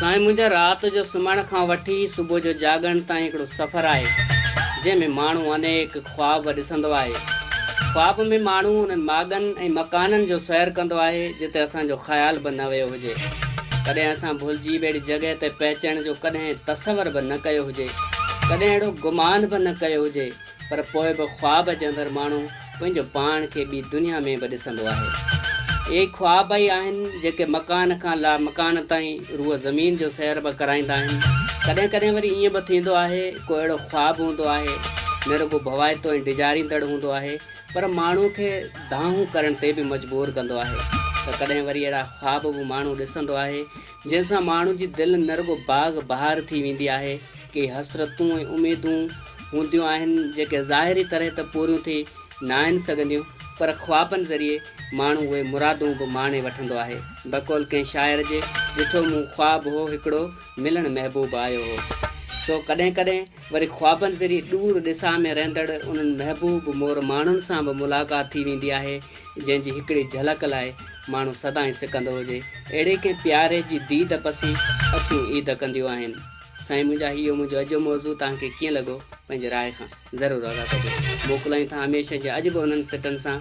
سائين منهنجا رات جو سمهڻ کان وٺي صبح جو جاڳڻ تائين هڪڙو سفر آهي جنهن ۾ ماڻهو انيڪ خواب ڏسندو آهي. خواب ۾ ماڻهو انهن ماڳن ۽ مڪانن جو سير ڪندو آهي جتي اسان جو خيال به نه ويو هجي. ڪڏهن اسان ڀلجي به اهڙي جڳهه تي پهچڻ جو ڪڏهن تصور به نه ڪيو هجي. ڪڏهن اهڙو گمان به نه ڪيو هجي. پر پوء به خواب جي اندر ماڻهو پنهنجو پاڻ کي ٻي دنيا ۾ به ڏسندو آهي. اهي ئي خواب ئي آهن جيڪي مڪان کان لامڪان تائين روح زمين جو سير به ڪرائيندا آهن. ڪڏهن ڪڏهن وري ائين به ٿيندو آهي ڪو اهڙو خواب هوندو آهي نه رڳو ڀوائتو ۽ ڊيڄاريندڙ هوندو آهي پر ماڻهو کي دانهون ڪرڻ تي به مجبور ڪندو آهي ته ڪڏهن وري اهڙا خواب به ماڻهو ڏسندو آهي جنهن سان ماڻهو جي دل نه رڳو باغ بهار ٿي ويندي آهي، ڪي حسرتون ۽ اميدون هونديون آهن، جيڪي ظاهري طرح ته پوريون ٿي ناهن سگهنديون، پر خوابن ذريعي ماڻهو اهي مرادون به ماڻي وٺندو آهي. بقول ڪنهن شاعر جي، ڏٺو مون خواب هو هڪڙو، ملڻ محبوب آيو هو. سو ڪڏهن ڪڏهن. وري خوابن ذريعي ڏور ڏسان ۾ رهندڙ انهن محبوب مور ماڻهن سان به ملاقات ٿي ويندي آهي، جنهن جي هڪڙي جهلڪ لاء ماڻهو سدائين سڪندو هجي. اهڙي ڪنهن پياري جي ديد پسي اکيون عيد ڪنديون آهن. سائين منهنجا هيء منهنجو اڄ جو موضوع توهان کي ڪيئن لڳو؟ پنهنجي راء کان ضرور آگاهه ڪجو. موڪلائين ٿا هميشه جيان اڄ به انهن سٽن سان.